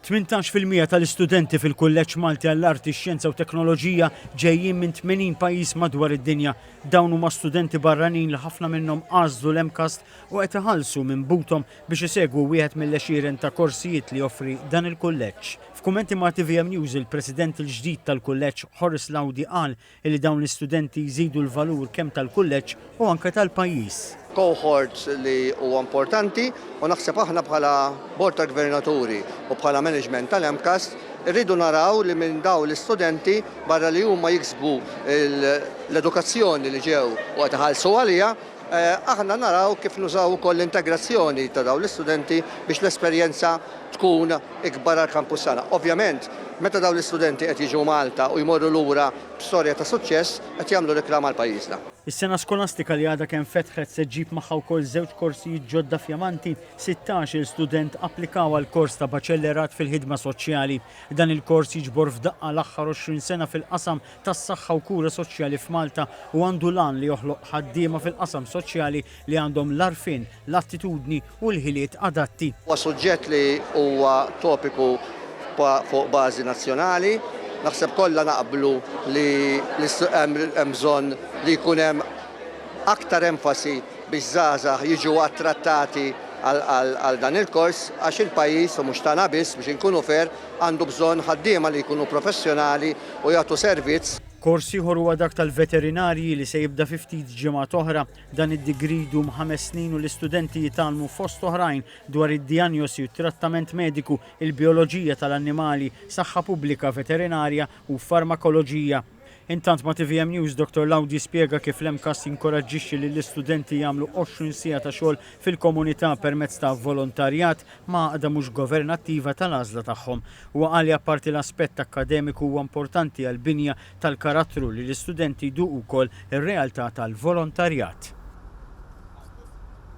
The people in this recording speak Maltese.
Tmintax fil-mija tal-istudenti fil-Kulleġġ Malti għall-Arti, Xjenza u Teknoloġija ġejjin minn 80 pajjiż madwar id-dinja. Dawn huma studenti barranin li ħafna minnhom għażlu l-MCAST u qed iħallsu minn buthom biex isegwu wieħed mill-għexieren ta' korsijiet li joffri dan il-kulleġġ. F'kummenti ma' tvm News il-President il-ġdid tal-Kulleġġ, Horace Laudi qal li dawn l-istudenti jżidu l-valur kemm tal-kulleġġ u anke tal-pajjiż. cohorts li huwa importanti u naħseb aħna bħala Bord tal-Gvernaturi u bħala management tal-MCAST irridu naraw li minn dawn l-istudenti barra li huma jiksbu l-edukazzjoni li ġew u qed iħallsu għaliha, Aħna naraw kif nużaw ukoll l-integrazzjoni ta' dawn l-istudenti biex l-esperjenza tkun ikbar għall-kampus tagħna. Ovvjament, meta dawn l-istudenti qed jiġu Malta u jmorru lura b'storja ta' suċċess, qed jagħmlu riklam għal pajjiżna. Is-sena skolastika li għadha kemm fetħet se ġġib magħha wkoll żewġ korsijiet ġodda f'Jamanti. Sittax-il student applikaw għal kors ta' Baċellerat fil-Ħidma Soċjali. Dan il-kors jiġbor f'daqqa l-aħħar għoxrin sena fil-qasam tas-saħħa u kura soċjali f'Malta u għandu l-għan li joħloq ħaddiema fil-qasam soċjali li għandhom l-għarfien, l-attitudni u l-ħiliet adatti. Huwa suġġett li huwa topiku fuq bażi nazzjonali. Naħseb kollha naqblu li hemm bżonn li jkun hemm aktar enfasi biex żgħażagħ jiġu attrattati għal dan il-kors għax il-pajjiż, u mhux tagħna biss biex inkunu fair, għandu bżonn ħaddiema li jkunu professjonali u jagħtu servizz. Kors ieħor huwa dak tal-veterinarji li se jibda fi ftit ġimgħat oħra. Dan id-degree jdum ħames snin u l-istudenti jitgħallmu fost oħrajn dwar id-dijanjosi u t-trattament mediku, il-bijoloġija tal-annimali, saħħa pubblika veterinarja u farmakoloġija. Intant ma' tvm News Dottor Lowdy spjega kif l-MCAST jinkoraġġixxi lill-istudenti jagħmlu 20 siegħa ta' xogħol fil-komunità permezz ta' volontarjat ma' għaqda mhux governattiva tal-għażla tagħhom. Huwa qal li apparti l-aspett akkademiku huwa importanti għall-binja tal-karattru li l-istudenti jduqu wkoll ir-realtà tal-volontarjat.